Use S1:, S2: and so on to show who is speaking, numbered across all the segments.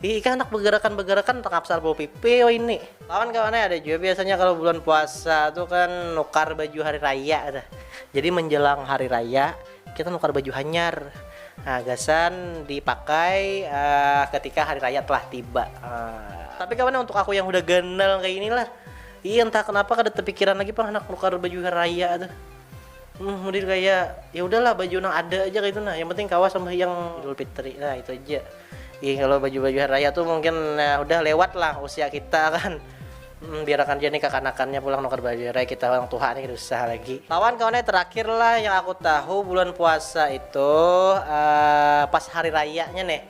S1: Ih ikam anak begerakan-begerakan handak hapsar bau pipi wahini. Kawan-kawan ai ada jua biasanya kalo bulan puasa tu kan nukar baju hari raya tu. Jadi menjelang hari raya kita nukar baju hanyar nah gasan dipakai ketika hari raya telah tiba. Tapi kawan ai untuk aku yang hudah ganal kaya ini lah, ih entah kenapa kada tepikiran lagi pang handak nukar baju hari raya tu. Hmm, mudin kaya ya udahlah baju nang ada aja kaitu nah, yang penting kawa sambahyang Idul Fitri nah itu aja. Ih, kalau baju-baju hari raya tuh mungkin nah, udah lewat lah usia kita kan. Hmm, biarkan aja nih kakanakannya pulang nukar baju raya kita orang tuha nih susah lagi. Lawan kawan terakhir lah yang aku tahu bulan puasa itu uh, pas hari rayanya nih.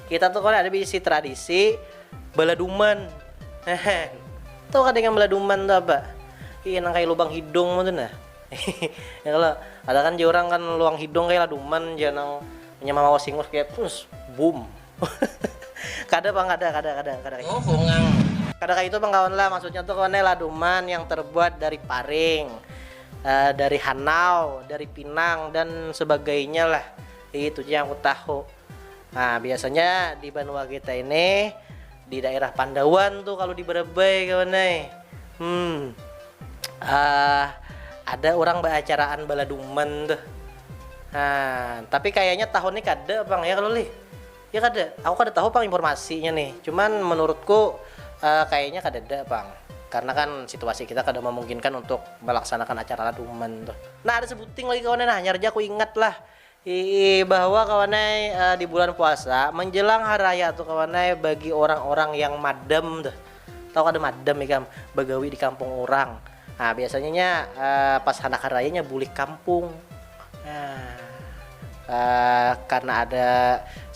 S1: Kita tuh kalau ada bisi tradisi beladuman. Hehe. Tuh kadang beladuman tuh apa? Iya nang kayak lubang hidung tuh nah. Hehehe ada kan jar urang kan luang hidung kaya laduman jar nang inya mamawas hingus kaya pus bum kada pang kada kada kada kada kaya itu kada kaya itu pang kawan lah maksudnya tu kawan laduman yang terbuat dari paring dari hanau dari pinang dan sebagainya lah itu ja yang ku tahu nah biasanya di banua kita ini. Di daerah Pandawan tu kalu di Barabai kawan ai, hmm ah ada urang baacaraan baladuman tuh, ah tapi kayanya tahun ni kada pang ya kalu lih, ya kada, aku kada tahu pang informasinya nih, cuman menurutku ah kayanya kadada pang karna kan situasi kita kada mamungkinkan untuk malaksanakan acara laduman tuh. Nah ada sebuting lagi kawan ai nah hanyar ja aku ingat lah, Hihi bahwa kawan ai di bulan puasa menjelang hari raya tu kawan ai bagi orang-orang yang madam tuh tahu kada madam ikam bagawi di kampung orang nah biasanya nya pas handak hari raya nya bulik kampung nah karna ada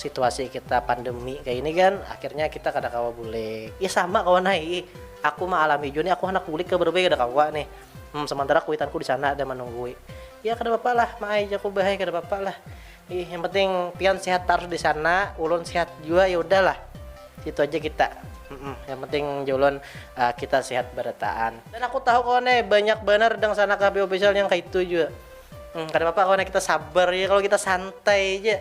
S1: situasi kita pandemi kaya ini kan akhirnya kita kada kawa bulik ih sama kawan ai aku maalami jua nih aku handak bulik ke barubai kada kawa nih. Hum, samantara kuitanku di sana ada manunggui. Ya kada papa lah ma ai jaku bah ai kada papa lah. Ih yang penting pian sehat tarus di sana, ulun sehat jua ya udah lah. Situ aja kita. Hum, yang penting jar ulun kita sehat barataan. Dan aku tahu kawan ai banyak banar Dangsanaka Happy Official yang kaitu jua. Hum, kada papa kawan ai kita sabar ja kalo kita santai ja.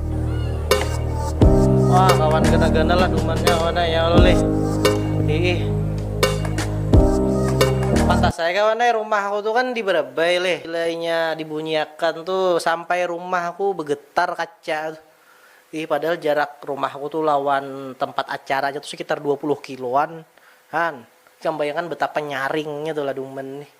S1: wah kawan gana-gana lah dumannya kawan ya Allah lih pedih pantas saya kawan ya rumah aku tuh kan di Barabai lih nilainya dibunyiakan tuh sampai rumah aku begetar kaca tuh ih padahal jarak rumah aku tuh lawan tempat acara aja tuh sekitar 20 kiloan han ikam bayangkan betapa nyaringnya tuh lah duman nih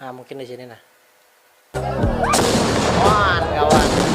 S1: nah mungkin di sini nah Wah, kawan ah.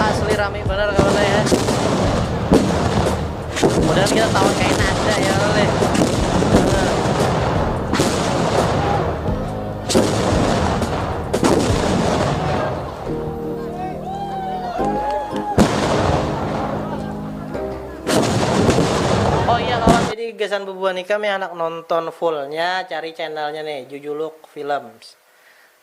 S1: asli rame bener kawan ya mudah kita tahu kayak ada ya oleh gasan bubuhan ikam yang anak nonton fullnya cari channelnya nih Jujuluk Films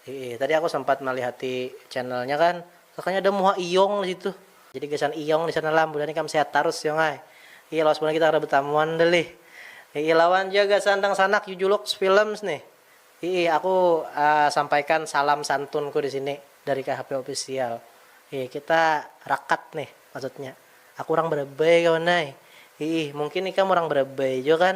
S1: Hiih, tadi aku sempat malihati channelnya kan, sakanya ada muha iyong di situ. Jadi gasan iyong di sana lah, bulan ni kam sehat tarus iyong ai. Hiih, lawas bulan ni kita kada betamuan dah lih. Hiih, lawan ja gasan dangsanak Yujulux Films nih. Hiih, aku sampaikan salam santunku di sini dari KHP Official. Hiih, kita rakat nih, maksudnya aku urang Barabai kawan ai. Hiih, mungkin ikam urang Barabai jua kan.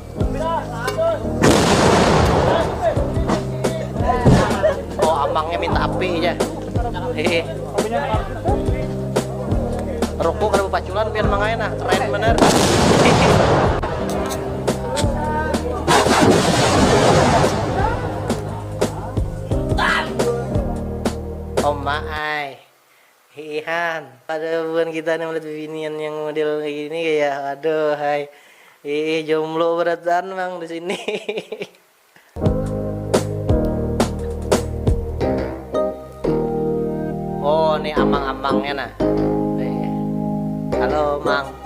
S1: Oh, amangnya minta api aja. Hehe. Ruku kada paculan pian mangaya nah, keren bener. Oma ai. Hihihan, pada buhan kita ni malihat bibinian yang model kaya gini kaya aduhai hiih jomblo barataan pang di sini hihihi. Oh ni amang-amangnya nah. Halo mang.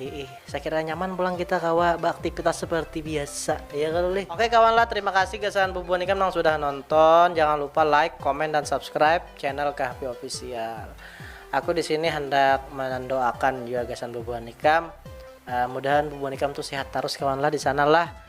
S1: Hiih, sakira nyaman pulang kita kawa baaktipitas seperti biasa, ya kalo lih. Oke kawan lah, terima kasih gasan bubuhan ikam nang sudah nonton, jangan lupa like, comment, dan subscribe channel Kahfi Official. Aku di sini handak mandoakan jua gasan bubuhan ikam, mudahan bubuhan ikam tu sehat tarus kawan lah di sana lah.